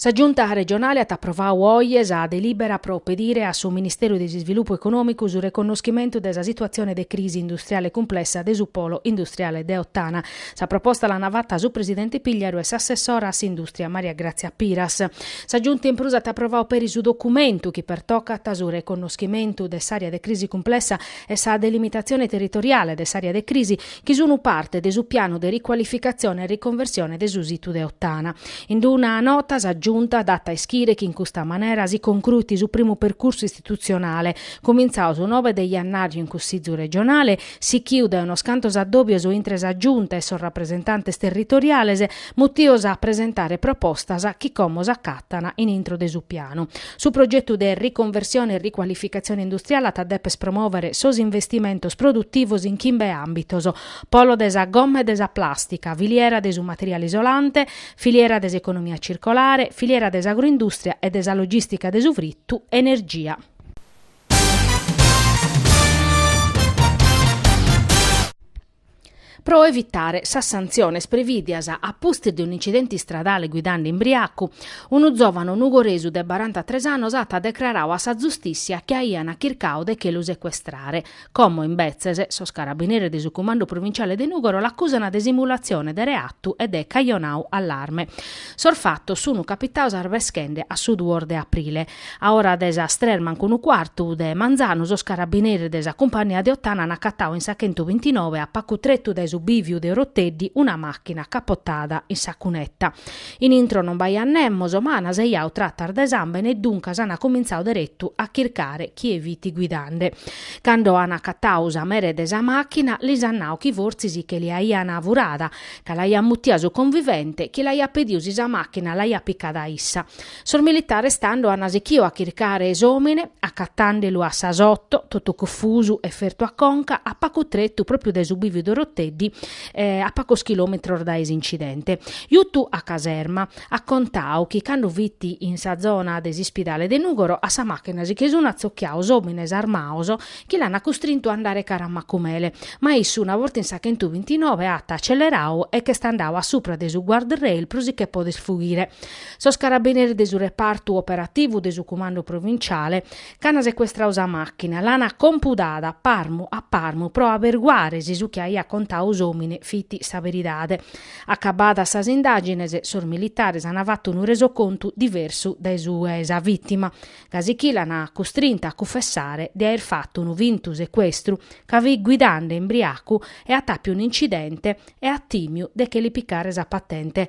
Sa Giunta regionale at aprovadu oje sa delibera pro pedire a su Ministèriu de s'Isvilupu Econòmicu su reconnoschimentu de sa situatzione de crisi industriale cumplessa de su polo industriale de Ottana. Sa proposta l'ant fata su presidente Pigliaru e s'assessora a s'indùstria Maria Grazia Piras. Sa Giunta in prus at aprovadu peri su documentu chi pertocat su reconnoschimentu de s'àrea de crisi cumplessa e sa delimitatzione territoriale de s'àrea de crisi, chi sunu parte de su pianu de ricualificatzione e riconversione de su situ de Ottana. In una nota sa Giunta dat a ischire chi in custa manera si concruit su primu percursu istitutzionale, cumintzadu su nove de jannàriu in Cussìgiu regionale, sichiu dae unos cantos addòbios intre sa Giunta e sos rapresentantes territoriales, mutios a presentare propostas chi como s'acatan in intro de su pianu. Su progetu de riconversione e ricualificatzione industriale at a deper promòvere sos investimentos produtivos in chimbe àmbitos, polo de sa gomma e de sa plàstica, filiera de su materiale isolante, filiera de s'economia circolare, filiera de s'agroindùstria e de sa logìstica de su fritu, energia. Pro evitare sas santziones prevìdias a pustis de un'incidente istradale guidande imbriacu, unu zòvanu nugoresu de barantatres annos at decraradu a sa zustìssia chi aian chircadu de che lu secuestrare, como, imbetzes, sos carabineres de su Cumandu Provintziale de Nùgoro l'acusana de simulatzione de reatu e de cajonau allarme. Sos fatos sunt capitados arbeschende a su duos de aprile. A ora de sas tres mancu unu cuartu de manzanu sos carabineres de sa cumpannia de Ottana an acatau in sa chentu bintinove a pacu tretu dae su bìviu de Oroteddi una màchina capotada in sa cuneta. In intro non b'aiat nemos, ma an sejau tratas de sàmbene e duncas an cumintzau deretu a chircare chie fit guidande. Cando an acatau sa mere de sa màchina lis an nau chi fortzis che l'aian furada, ca l'aiat mutia su convivente chi l'aiat pediu si sa màchina l'aiat picada issa. Sos militares tando an sichidu a chircare s'òmine, acatande lu a sas oto, totu cunfusu e fertu a conca, a pacu tretu pròpiu dae su biviu de Oroteddi, a pacos chilòmetros dae s'incidente. Jutu a caserma, at contadu chi cando fit in sa zona de s'ispidale de Nùgoro a sa màchina si che sun acostiados òmines armados chi l'an custrintu a andare cara a Macumele, ma issu una borta in sa chentubiintinove at acelleradu e ch'est andadu a supra de su guardrail pro si che poder fughire. Sos carabineres de su repartu operativu de su cumandu provinciale ch'an secuestradu sa màchina, l'an compudada parmu a parmu pro aberguare si su chi aiat contadu s'òmine fit sa beridade. Acabadas sas indàgines, sos militares an fatu unu resocontu diversu dae su 'e sa vìtima, gasi chi l'an custrinta a cunfessare de aer fatu unu fintu secuestru, ca fit guidande imbriacu e at àpiu un'incidente e at tìmiu de che li picare sa patente.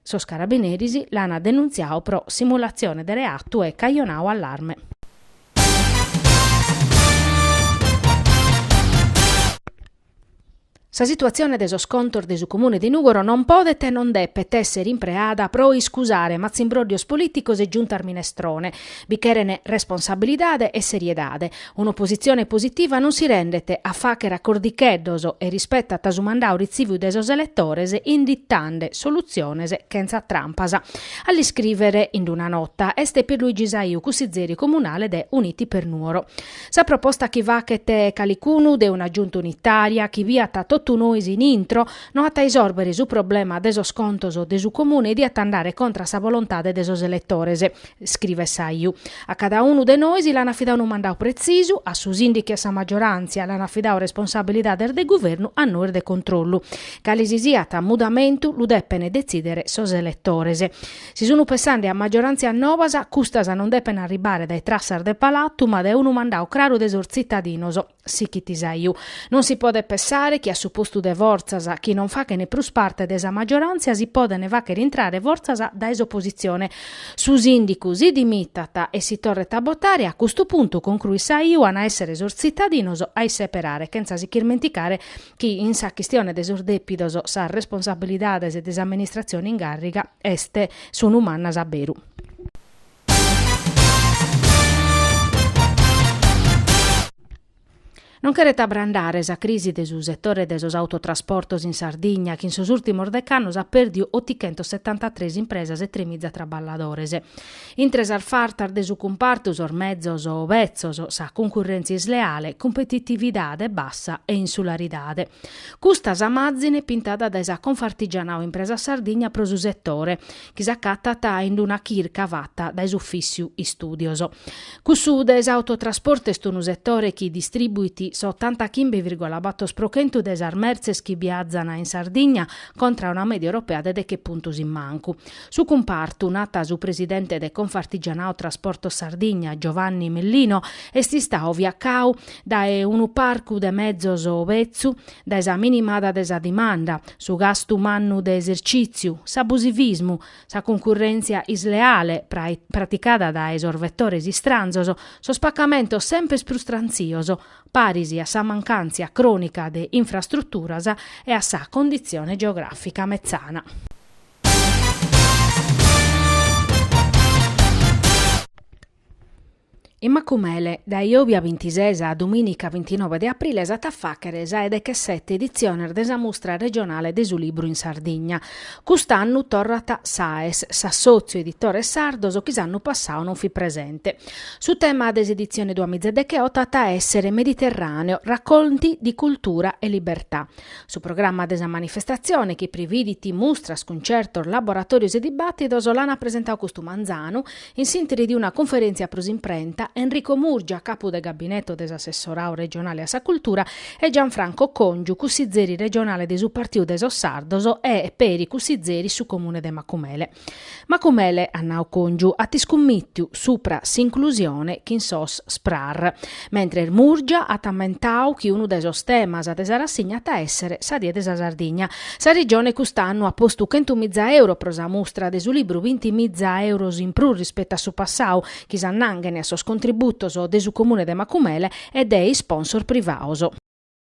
Sos carabineris l'ant denuntziadu pro simulatzione de reatu e cajonadu allarme. Sa situatzione de sos contos de su Comune de Nùgoro non podet e non depet èssere impreada pro iscusare matzimbróddios polìticos e giuntas minestrone. Bi cheren responsabilidade e seriedade. Un'opositzione positiva non si rendet a fàghere acordicheddos e rispetat su mandadu retzìviu dae sos eletores inditande solutziones chentza trampas. A l'iscrìvere in una nota est Pierluigi Saiu, cussizeri comunale de Uniti per Nuoro. Sa proposta chi faghet calicunu de una Giunta unitària chi biat totu nois in intro no at a isòrvere su problema de sos contos de su Comune, diat andare contra a sa bolontade de sos eletores. scrivet Saiu, a cada unu de nois l'an afidau unu mandau pretzisu, a su sìndicu e a sa maggioràntzia l'an afidau responsabilidades de guvernu a nois de controllu. Cale si siat mudamentu lu depent detzìdere sos eletores. Si sun pensande a maggioràntzias nobas, custas non depent arribare dae trassas de palatu ma dae unu mandau craru de sos tzitadinos. Sichit Saiu. Non si podet pessare chi a su postu de fortzas chi non fachent prus parte de sa maggioràntzia si podent fàchere intrare fortzas dae s'opositzione. Su sìndicu si dimitat e si torret a botare, a custu puntu, concruit Saiu, an a èssere sos tzitadinos a isseperare, chentza si chirmenticare chi in sa chistione de sos dèpidos sas responsabilidades de s'amministratzione in gàrriga est, sunt mannas a beru. Non cheret abrandare sa crisi de su setore de sos autotrasportos in Sardigna, chi in sos ùrtimos decannos at pèrdiu otichentosetantatres impresas e tremiza traballadores. Intre sas fartas de su cumpartu sos mezos betzos, sa cuncurrèntzia isleale, cumpetitividade bassa e insularidade. Custa sa màzine pintada dae sa Confartigianao Impresa Sardigna pro su setore, chi s'acatat in d-una chirca fata dae s'Ufìssiu Istùdios. Cussu de s'autotrasportu est unu setore chi distribuit s'otantachimbe virgola bator pro chentu de sas mertzes chi biazan in Sardigna contra una mèdia europea de deche puntos in mancu. Su cumpartu, nat su presidente de Confartigianao Trasportos Sardigna, Giovanni Mellino, est istadu fiacadu dae unu parcu de mezos betzu, dae sa minimada de sa dimanda, su gastu mannu de esercìtziu, s'abusivismu, sa cuncurrèntzia isleale praticada dae sos vetores istranzos, sos pacamentos semper prus trantzios, paris a sa mancàntzia crònica de infrastruturas e a sa conditzione geogràfica metzana. In Macumele, dae jòbia bintises a domìnica bintinove de aprile s'at a fàghere sa 'e dechesete editziones de sa Mustra regionale de su libru in Sardigna. Cust'annu torrat Saes, s'assòtziu 'e editores sardos chi s'annu passadu non fit presente. Su tema de s'editzione duamiza e decheoto at a èssere Mediterràneo, racconti di cultura e libertà. Su programma de sa manifestatzione, chi prividit mustras, cuntzertos, laboratòrios e dibàtidos, l'an presentadu custu manzanu In s'interi de una cunferèntzia pro s'imprenta, Enrico Murgia, capu de gabineto de s'assessoradu regionale a sa cultura, e Gianfranco Còngiu, cussizeri regionale de su Partiu de sos Sardos e peri cussizeri in su Comune de Macumele. Macumele, at nadu Còngiu, at iscummìtiu supra s'inclusione chin sos SPRAR. Mentres Murgia at ammentadu chi unu de sos temas de sa rassigna at a èssere sa Die de sa Sardigna. Sa Regione cust'annu at postu chentumiza euros pro sa mustra de su libru, bintimiza euros in prus rispetu a su passadu, chi s'annanghen a sos contributos de su Comune de Macumele e de isponsor privados.